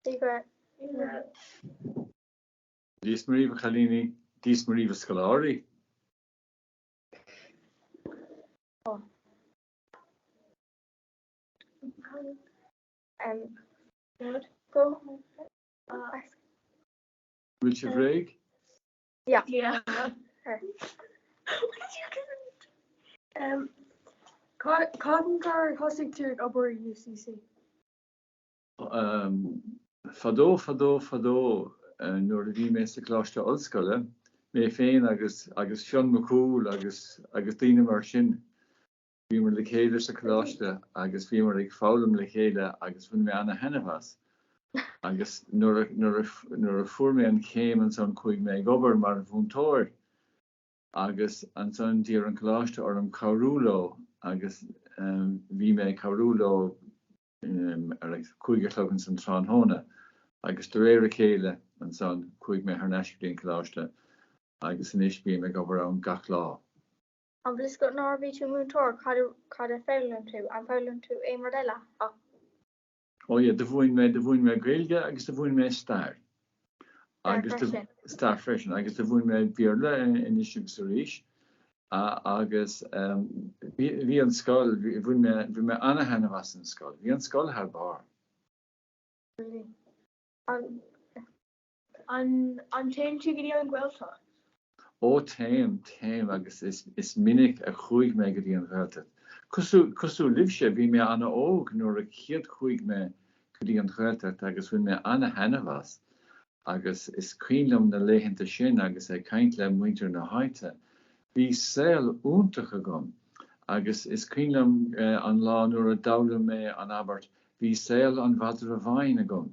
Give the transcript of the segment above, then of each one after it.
Dia is Muire dhíbh a chailíní, Dia is Muire dhíbh a scoláirí. Bhfuil sibh réidh? Cathain a thosaigh tú ag obair i UCC? Fadó, fadó, fadó, nuair a bhí mé sa Choláiste Ollscoile, mé féin agus, agus Fionn Mac Cumhaill agus, agus daoine mar sin, bhíomar le chéile sa choláiste agus bhíomar ag foghlaim le chéile agus bhain mé ana-thaitneamh as. Agus nuair a, nuair a, nuair a fuair mé an chéim ansan chuaigh mé ag obair mar mhúinteoir agus ansan d'iarr an coláiste orm cabhrú leo agus bhí mé ag cabhrú leo ar a cúig a chlog insan tráthnóna agus de réir a chéile ansan chuaigh mé thar n-ais go dtí an coláiste agus anois bím ag obair ann gach lá. An bhfuil 's agat nuair a bhí tú múinteoir cad a mhúin tú, ar mhúin tú aon rud eile ach. Ó yeah, do mhúin mé, do mhúin mé Gaeilge agus do mhúin mé Stair. Stair freisin. Agus do mhúin mé Béarla anois agus arís agus bhí an scoil, bhain mé, bhain mé ana-thaitneamh as an scoil. Bhí an scoil thar barr. Brilliant. An téann tú go dtí an Ghaeltacht? Ó, téim, téim agus is minic a chuaigh mé go dtí an Ghaeltacht. Cosúil libhse, bhí mé ana-óg nuair a chéad chuaigh mé go dtí an Ghaeltacht agus bhain mé ana-thaitneamh as agus is cuimhin liom na laethanta sin agus ag caint le muintir na háite. Bhí saol iontach agam agus is cuimhin liom an lá nuair a d'fhoghlaim mé an abairt 'Bhí saol an mhadra bháin agam'.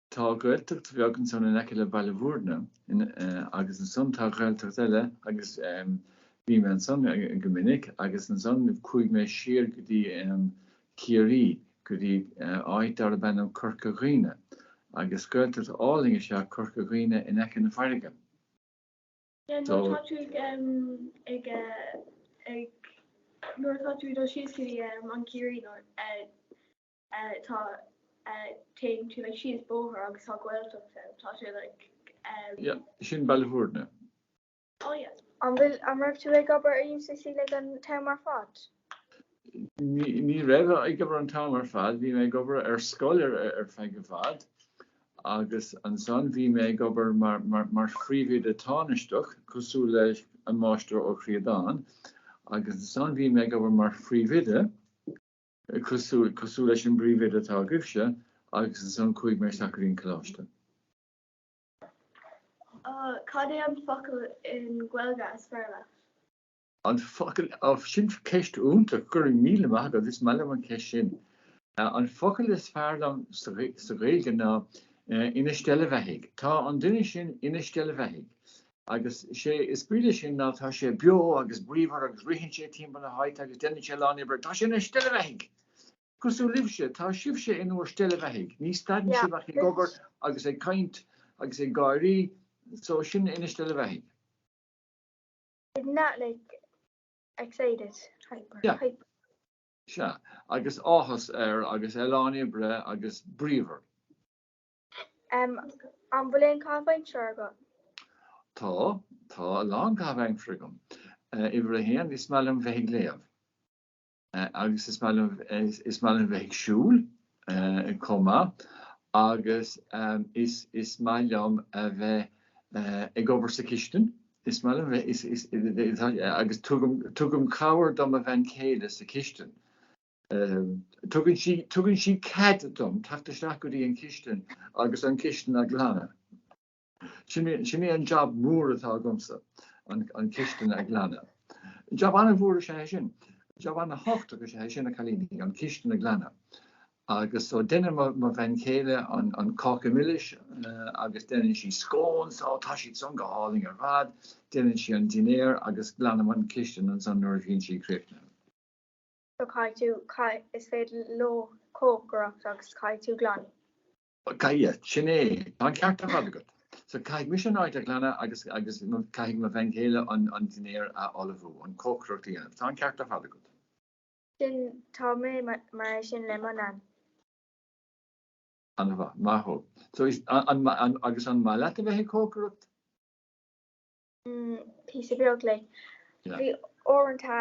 Tá Gaeltacht bheag ansan in aice le Baile Mhúirne agus ansan tá Gaeltacht eile agus bhí mé ansan go minic agus ansan chuaigh mé siar go dtí Ciarraí go dtí áit darb ainm Corca Dhuibhne agus Gaeltacht álainn is ea Corca Dhuibhne in aice na fairrge. Yeah nuair atá tú ag ag ag nuair atá tú ag dul síos go dtí an Ciarraí nó eh. tá téann tú like síos bóthar agus tá gaeltacht ann tá sé like. yeah sin Ballyvourney. oh yeah. An bhfuil an raibh tú ag obair i UCC like an t-am ar fad? ní raibh ag obair an t-am ar fad bhí mé ag obair ar scoil ar ar feadh i bhfad agus ansan bhí mé ag obair mar mar mar phríomhoide tánaisteach cosúil le an máistir Ó Críodáin agus ansan bhí mé ag obair mar phríomhoide cosúil, cosúil leis an bpríomhoide atá agaibhse, agus ansan chuaigh mé isteach go dtí an coláiste. Cad é an focal i nGaeilge is fearr leat? An focal, oh, sin ceist iontach, go raibh míle maith agat, is maith liom an ceist sin. An focal is fearr liom sa Ghaeilge ná ina steillbheathaidh. Tá an duine sin ina steillbheathaidh. Agus sé is brí leis sin ná tá sé beo agus bríomhar agus ritheann sé timpeall na háite agus déanann sé a lán oibre. Tá sé ina steillbheathaidh! Cosúil libhse, tá sibhse in bhur steillbheathaidh. Ní stadann sibh ach ag obair agus ag caint agus ag gáirí so sin é ina steillbheathaidh. Isn't that like excited, hyper, yeah. hyper? Sea, agus áthas air agus a lán oibre agus bríomhar. M, An bhfuil aon chaitheamh aimsire agat? Tá, tá a lán caitheamh aimsire agam. Uimhir a haon, is maith liom bheith ag léamh. Agus is maith liom, is maith liom bheith ag siúl chomh maith. Agus is, is maith liom a bheith ag obair sa chistin. Is maith liom bheith, is, is, is, is, agus tugaim, tugaim cabhair do mo bhean chéile sa chistin. Tugann sí cead dom teacht isteach go dtí an chistin agus an chistin a ghlanadh. Sin é an jab mór atá agamsa, an chistin a ghlanadh. Jab an-mhór is ea é sin. Jab an-thábhachtach is ea é sin, a chailíní, an chistin a ghlanadh. Agus so deineann mo bhean chéile an cáca milis agus deineann sí scones. Ó, tá siadsan go hálainn ar fad. Deineann sí an dinnéar agus glanaim an chistin ansan nuair a bhíonn sí críochnaithe. Má, caithfidh tú, caith, is féidir leo cócaireacht agus caithfidh tú glanadh. Caithfidh, sin é, tá an ceart ar fad agat. So, caithfidh mise an áit a ghlanadh agus, agus caithfidh mo bhean chéile an dinnéar a ullmhú, an cócaireacht a dhéanamh. Tá an ceart ar fad agat. Sin, tá mé mar é sin le mo Nain. An-mhaith, maith thú. So, is, an, an, an, agus an maith leat a bheith ag cócaireacht? píosa beag le bhí uaireanta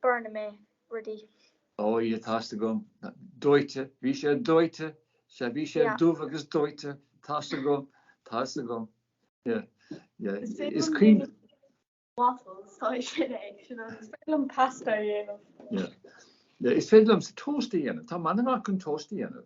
burnálann mé rudaí. Ó yeah tá's agam dóite, bhí sé dóite, sea bhí sé dubh agus dóite, tá's agam, tá's agam, yeah, yeah, is cuimhin. waffles, tá sé sin é, is féidir liom pasta a dhéanamh. yeah, yeah, is féidir liomsa toast a dhéanamh, tá mé an-mhaith chun toast a dhéanamh.